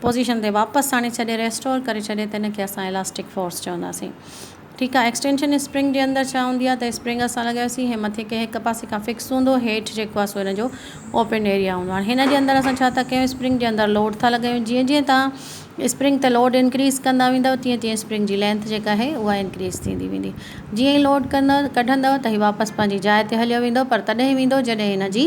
Position تي واپس آڻي ڇڏي ريسٽور ڪري ڇڏي ته ان کي اسان الاسٽڪ فورس چونداسين ٺيڪ آ ايڪسٽينشن اسپرنگ جي اندر ڇا هوندي آ ته اسپرنگ اسان لڳايوسين هي مٿي ڪنهن هڪ پاسي کان فڪس هوندو هيٺ جيڪو آ سو ان جو اوپن ايريا هوندو هاڻي هن جي اندر اسان ڇا ٿا ڪيون اسپرنگ جي اندر لوڊ ٿا لڳايون جيئن جيئن توهان اسپرنگ تي لوڊ انڪريز ڪندا ويندؤ تيئن تيئن اسپرنگ جي لينٿ جيڪا آهي اها انڪريز ٿيندي ويندي جيئن ئي لوڊ ڪندا ڪڍندؤ ته هي واپس پنهنجي جاء تي هليو ويندو پر تڏهن ويندو جڏهن هن جي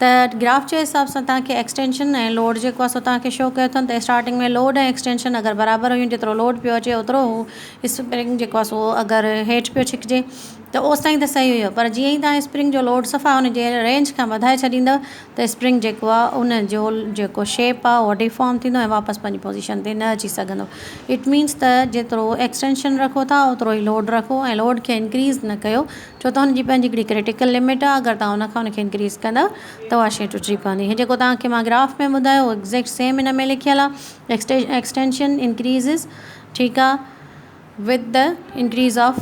ته گراف جي حساب سان توهان کي ايڪسٽينشن ۽ لوڊ جيڪو آهي سو توهان کي شو ڪيو اٿن ته اسٽارٽنگ ۾ لوڊ ۽ ايڪسٽينشن اگر برابر هيون جيترو لوڊ پيو اچي اوترو هو اسپرنگ جيڪو آهي سو اگر هيٺ پيو ڇڪجي ته اوستائين ته صحيح هيو پر جيئن ئي توهان اسپرنگ جو لوڊ صفا ان جي رينج کان وڌائي ڇڏيندو ته اسپرنگ جيڪو آهي ان جو جيڪو شيپ آهي اهو ڊيفارم ٿيندو ۽ واپس پنهنجي پوزيشن تي نه اچي سگهندو اٽ مينس ته جيترو ايڪسٽينشن رکو ٿا اوترو ئي لوڊ رکو ۽ لوڊ کي انڪريز نه ڪيو ڇو ته هن جي پنهنجي هڪڙي ڪرٽيڪل لمٽ آهي اگر توهان ان کان ان کي انڪريز ڪندا ته اها شئي ٽٽجي پوندي هي جيڪو توهان کي مان گراف ۾ ٻڌايو اهو ايگزيڪٽ سيم هن ۾ لکيل آهي ايڪسٽينشن انڪريزز ٺيڪ آهي with the increase of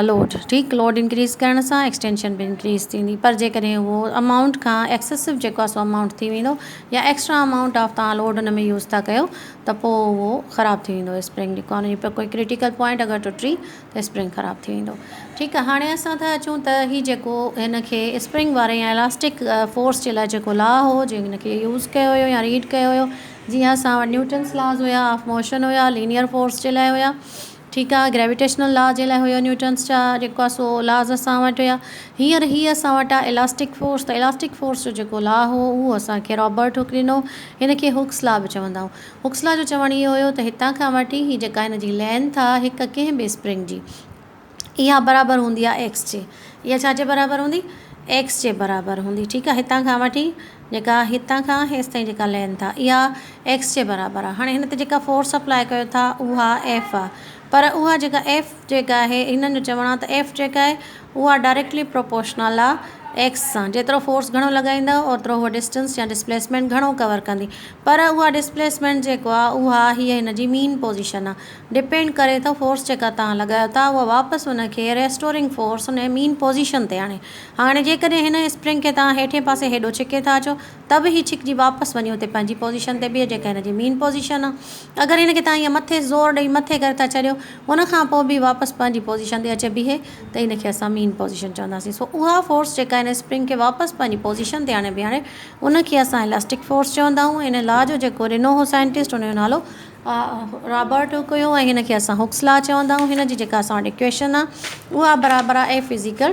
load ٺيڪ لوڊ انڪريز ڪرڻ سان ايڪسٽينشن به انڪريز ٿيندي پر جيڪڏهن هو امائونٽ کان ايڪسسو جيڪو آهي سو امائونٽ ٿي ويندو يا ايڪسٽرا امائونٽ آف توهان لوڊ هن ۾ يوز ٿا ڪيو ته پوء اهو خراب ٿي ويندو اسپرنگ جيڪو آهي ان جي ڪرٽيڪل پوائنٽ اگر ٽٽي اسپرنگ خراب ٿي ويندو ٺيڪ آ هاڻي اسان ٿا اچون ته هي جيڪو هن کي اسپرنگ واري يا الاسٽڪ فورس جي لاء جيڪو لا هو جنهن کي يوز ڪيو هيو يا ريڊ ڪيو هيو جيئن اسان وٽ نيوٽنس لاز هيا آف موشن هيا لينيئر فورس جي لاء هيا ٺيڪ آ گريويٽيشنل لا جي لاء هيو نيوٽنس جا جيڪو آ سو لاز اسان وٽ هيا هينئر هي اسان وٽ آ الاسٽڪ فورس ته الاسٽڪ فورس جو جيڪو لا هو اهو اسان کي رابرٽ هوڪ ڏنو هن کي هوڪس لا به چوندا هئا هوڪسلا جو چوڻ اهو هيو ته هتان کان وٺي هي جيڪا هن جي لينٿ آهي هڪ ڪنهن به اسپرنگ جي اها برابر هوندي آهي ايڪس جي اها ڇا جي برابر هوندي ايڪس جي برابر هوندي ٺيڪ آهي هتان کان وٺي جيڪا هتان کان هيس تائين جيڪا لينٿ آهي اها ايڪس جي برابر آهي هاڻي هن تي جيڪا فورس اپلاء ڪيو ٿا اها ايف آهي پر اها جيڪا ايف جيڪ آهي هنن جو چوڻ آهي ته ايف جيڪ آهي اها ڊائريڪٽلي پروپورشنل آهي ايڪس سان جيترو فورس گهڻو لڳائيندا اوترو هوء ڊسٽنس يا ڊسپليسمينٽ گهڻو ڪور ڪندي پر اها ڊسپليسمينٽ جيڪو آهي اها هي هن جي مين پوزيشن آهي ڊپينڊ ڪري ٿو فورس جيڪا توهان لڳايو ٿا اها واپس ان کي ريسٽورنگ فورس ان جي مين پوزيشن تي آڻي هاڻي جيڪڏهن هن اسپرنگ کي توهان هيٺين پاسي هيڏو ڇڪي ٿا اچو ته به هي ڇڪجي واپس وڃي اتي پنهنجي پوزيشن تي بيهي جيڪا هن جي مين پوزيشن آ. اگر هن کي تهان ائين مٿي زور ڏئي مٿي ڪري ٿا ڇڏيو ان کان پوء به واپس پنهنجي پوزيشن تي اچي بيهي ته ان کي اسان مين پوزيشن چونداسين. سو اها فورس جيڪا هن اسپرنگ کي واپس پنهنجي پوزيشن تي آڻي بيهاري ان کي اسان الاسٽڪ فورس چوندا آهيون. ان لا جو جيڪو ڏنو هو سائنٽسٽ ان جو نالو رابرٽ هوڪ هيو ۽ هن کي اسان هوڪس لا چوندا آهيون. هن جي جيڪا اسان وٽ اڪويشن آ اها برابر آ ايف از ايڪل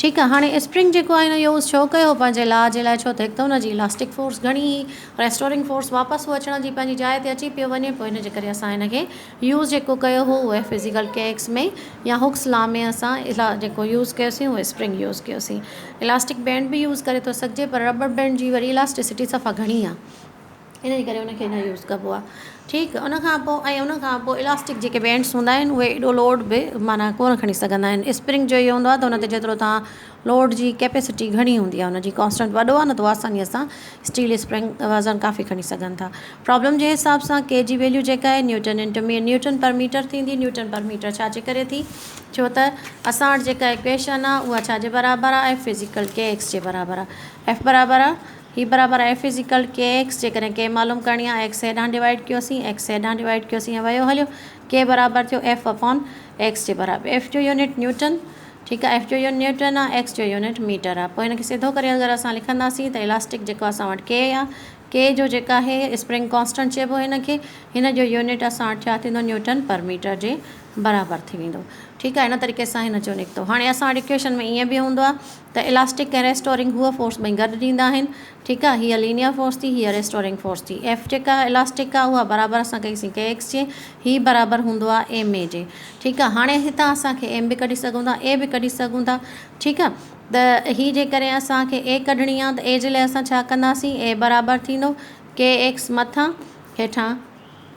ٺيڪ آ هاڻي اسپرنگ جيڪو آهي هن يوز ڇو ڪيو پنهنجي لا جي لاء ڇو ته هڪ ته هن جي الاسٽڪ فورس گهڻي هئي ريسٽورنگ فورس واپس هو اچڻ جي پنهنجي جاء تي اچي پيو وڃي پوء هن جي ڪري اسان هن کي يوز جيڪو ڪيو هو اهي فزيڪل ڪيڪس ۾ يا هوڪس لا ۾ اسان الا جيڪو يوز ڪيوسين اهو اسپرنگ يوز ڪيوسين الاسٽڪ بينڊ به يوز ڪري ٿو سگهجي پر ربر بينڊ جي وري الاسٽسٽي صفا گهڻي آ ان جي ڪري ان کي نه يوز ڪبو آ ٺيڪ ان کان پوء ۽ ان کان پوء الاسٽڪ جيڪي بينڊس هوندا آهن اهي ايڏو لوڊ به معنيٰ ڪونه کڻي سگهندا آهن اسپرنگ جو اهو هوندو آ ته ان تي جيترو تان لوڊ جي ڪيپيسٽي گهڻي هوندي آ ان جي ڪانسٽنٽ وڏو آ نه ته آساني سان اسٽيل اسپرنگ وزن ڪافي کڻي سگهن ٿا پرابلم جي حساب سان ڪي جي ويليو جيڪا آهي newton into meter newton per meter ٿيندي نيوٽن پر ميٽر ڇا جي ڪري ٿي ڇو ته اسان وٽ جيڪا ايڪويشن آ اها ڇا جي برابر آ F is equal K X جي برابر آ ايف برابر آ هي برابر آهي ايف ازيڪوال ڪي ايڪس جيڪڏهن ڪي معلوم ڪرڻي آهي ايڪس هيڏانهن ڊوائيڊ ڪيوسين ايڪس هيڏانهن ڊوائيڊ ڪيوسين ائين ويو هليو ڪي برابر ٿيو ايف اپون ايڪس جي برابر ايف جو يونٽ نيوٽن ٺيڪ آهي ايف جو يونٽ نيوٽن آهي ايڪس جو يونٽ ميٽر آهي پوء هن کي سڌو ڪري اگر اسان لکنداسين ته الاسٽڪ جيڪو اسان وٽ ڪي آهي ڪي جو جيڪو آهي اسپرنگ ڪانسٽنٽ چئبو هن کي هن جو يونٽ اسان وٽ ڇا ٿيندو نيوٽن پر ميٽر جي برابر ٿي ويندو ٺيڪ آهي ان طريقي سان هن جو نڪتو هاڻي اسان وٽ اڪويشن ۾ ائين به هوندو آهي ته الاسٽڪ ۽ ريسٽورنگ هوء فورس ٻئي گڏ ڏيندا آهن ٺيڪ آهي هيء لينيئر فورس ٿي هيء ريسٽورنگ فورس ٿي ايف جيڪا الاسٽڪ آهي اها برابر اسان ڪئي سين ڪي ايڪس جي هي برابر هوندو آهي ايم اي جي ٺيڪ آهي هاڻي هتان اسان کي ايم به ڪڍي سگهون ٿا اي به ڪڍي سگهون ٿا ٺيڪ آهي ته هي جيڪڏهن اسان کي اي ڪڍڻي آهي ته اي جي لاء اسان ڇا ڪنداسين اي برابر ٿيندو ڪي ايڪس مٿان هيٺان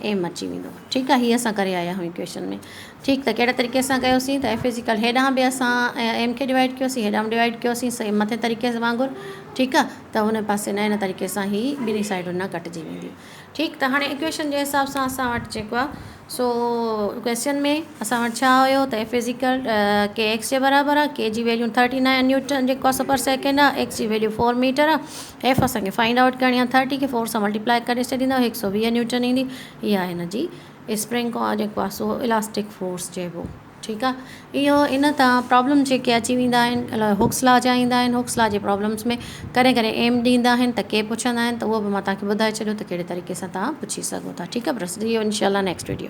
ايم اچي ويندو ٺيڪ آ هي اسان ڪري آيا هيون ايڪويشن ۾ ٺيڪ ته ڪهڙي طريقي سان ڪيو سين ته ايف از ايڪوال هيڏانهن به اسان ايم کي ڊوائيڊ ڪيو سين هيڏانهن به ڊوائيڊ ڪيو سين سيم مٿين طريقي سان وانگر ٺيڪ آ ته هن پاسي نه هن طريقي سان هي ٻنهي سائيڊن نا ڪٽجي وينديون ٺيڪ ته هاڻي ايڪويشن جي حساب سان اسان وٽ جيڪو آ سو ڪويشچن ۾ اسان وٽ ڇا هيو ته ايف از ايڪوال ڪي ايڪس جي برابر آ ڪي جي ويليو ٿرٽي نائن نيوٽن جي ڪوس پر سيڪنڊ آ ايڪس جي ويليو فور ميٽر آ ايف اسان کي فائنڊ آئوٽ ڪرڻي آهي ٿرٽي کي فور سان ملٽيپلائي ڪري ڇڏيندا هڪ سؤ ويهه نيوٽن ايندي هي آهي هن جي اسپرنگ کان جيڪو آهي سو الاسٽڪ فورس چئبو ٺيڪ آهي اهو ان تان پرابلم جيڪي اچي ويندا آهن الاء هوڪس لا جا ايندا آهن هوڪس لا جي پرابلمس ۾ ڪڏهن ڪڏهن ايم ڏيندا آهن ته ڪي پڇندا آهن ته اهو به مان توهان کي ٻڌائي ڇڏيو ته ڪهڙي طريقي سان توهان پڇي سگهو ٿا ٺيڪ آهي برس اهو انشاء الله نيڪسٽ ويڊيو